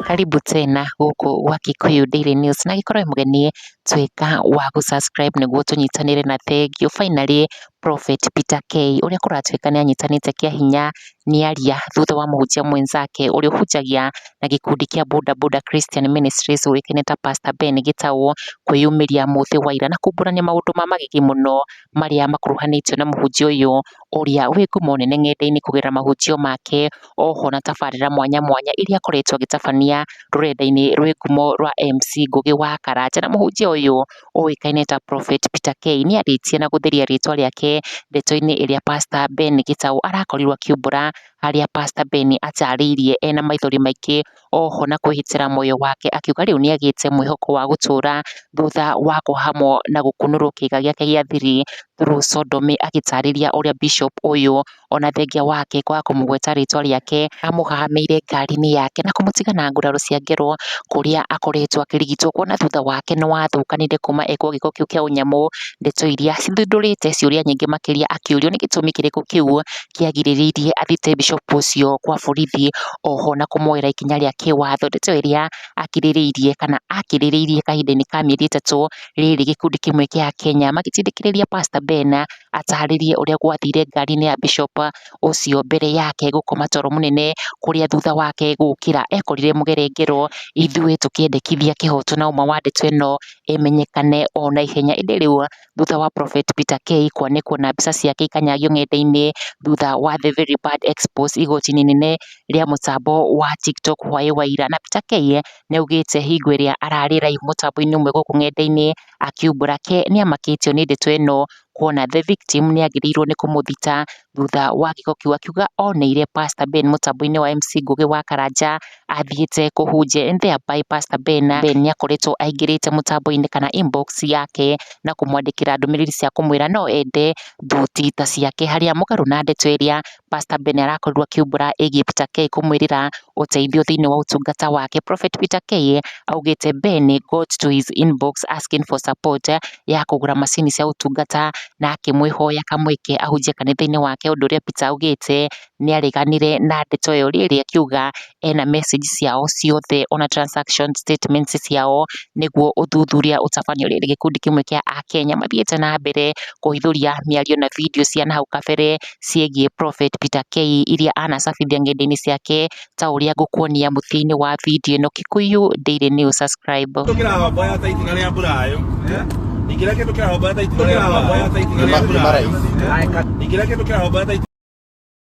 Karibu tena gũkũ gwa Kikuyu Daily News na gĩkorwo mũgeni tuĩka wa gũ subscribe nĩguo tũnyitanĩre na thengiũ. Finally Prophet Peter Kay ũrĩa kũratuĩka nĩ anyitanĩte kĩa hinya nĩaria thutha wa mũhunjia mwenzake ũrĩa ũhunjagia na gĩkundi kĩa Boda Boda Christian Ministries ũĩkaine ta Pastor Ben Gitau kwĩyumĩria mũthĩ wa ira na kumbũrania maũndũ ma magigi mũno marĩa makuruhanĩtio na mũhunjia ũyũ ũrĩa wĩ ngumo nene ng'enda-inĩ kũgerera mahunjio make oho na tabarĩra mwanya mwanya iria akoretwo agĩtabania rũrenda-inĩ rwĩ ngumo rwa MC Ngũgĩ wa Karanja na mũhunjia ũyũ ũĩkaine ta Prophet Peter Kay nĩ arĩtie na gũtheria rĩtwa rĩake ndeto-inĩ ĩrĩa Pastor Ben Gĩtaũ arakorirwo akiumbũra, harĩa Pastor Ben atarĩirie ena maithori maingĩ oho na kwĩhĩtĩra muoyo wake akiuga rĩu nĩ agĩte mwĩhoko wa gũtũra thutha wa kũhamwo na gũkunũrwo kĩĩga gĩake gĩa thiri through sodomy agĩtarĩria ũrĩa Bishop ũyũ ona thengia wake kwaga kũmũgweta rĩtwa rĩake, amũhahamĩire ngari-inĩ yake na kũmũtiga na nguraro cia ngero kũrĩa akoretwo akĩrigitwo, kuona thutha wake nĩ wathũkanire kuma ekwo gĩko kĩu kĩa ũnyamũ, ndeto iria cithundũrĩte ciũria nyingĩ makĩria akĩũrio nĩ gĩtũmi kĩrĩkũ kĩu kĩagirĩrĩirie athiĩte Bishop ũcio gwa borithi oho na kũmuoera ikinya rĩa kĩwatho, ndeto ĩrĩa akirĩrĩirie kana akĩrĩrĩirie kahinda-inĩ ka mĩeri ĩtatũ rĩrĩ gĩkundi kĩmwe gĩa Akenya magĩtindĩkĩrĩria Pastor Ben atarĩrie ũrĩa gwathire ngari-inĩ ya Bishop ũcio mbere yake gũkoma toro mũnene, kũrĩa thutha wake gũkĩra ekorire mũgerengero, ithuĩ tũkĩendekithia kĩhoto na ũma wa ndeto ĩno ĩmenyekane o na ihenya. Ĩndĩ rĩu thutha wa Prophet Peter Kay kwanĩkwo na mbica ciake ikanyagio ng'enda-inĩ thutha wa The Very Bad Exposed igoti-inĩ inene rĩa mũtambo wa TikTok hwaĩ wa ira, na Peter Kay nĩ augĩte hingo ĩrĩa ararĩ live mũtambo-inĩ ũmwe gũkũ ng'enda-inĩ akiumbũra ke nĩ amakĩtio nĩ ndeto ĩno kuona the victim nĩ agĩrĩirwo nĩ kũmũthita thutha wa gĩko kĩu akiuga oneire pastor Ben mũtambo-inĩ wa MC Ngũgĩ wa Karanja athiĩte kũhunjia and thereby pastor Ben nĩ akoretwo aingĩrĩte mũtambo-inĩ kana inbox yake na kũmwandĩkĩra ndũmĩrĩri cia kũmwĩra no ende thuti ta ciake harĩa mũgarũ na ndeto ĩrĩa Pastor Ben arakorirwo akiumbũra ĩgiĩ Peter Kay kũmwĩrĩra ũteithio thĩinĩ wa ũtungata wake. Prophet Peter Kay augĩte Ben got to his inbox asking for support ya kũgũra macini cia ũtungata na akĩmwĩhoya kamweke ahunjie kanitha-inĩ wake, ũndũ ũrĩa Peter augĩte nĩ areganire na ndeto ĩyo rĩrĩ akiuga ena message ciao ciothe ona transaction statement ciao nĩguo ũthuthuria ũtabanio rĩrĩ gĩkundi kĩmwe kĩa Akenya mathiĩte na mbere kũhithũria mĩario na video cia nahau kabere ciĩgiĩ Prophet Peter Kei iria anacabithia ng'enda-inĩ ciake ta ũrĩa ngũkuonia mũtĩ-inĩ wa video ĩno Kikuyu Daily News subscribe. Ingĩra kĩndũ kĩrahomba ta itimũ rĩa mbura. Ingĩra kĩndũ kĩrahomba ta itimũ rĩa mbura.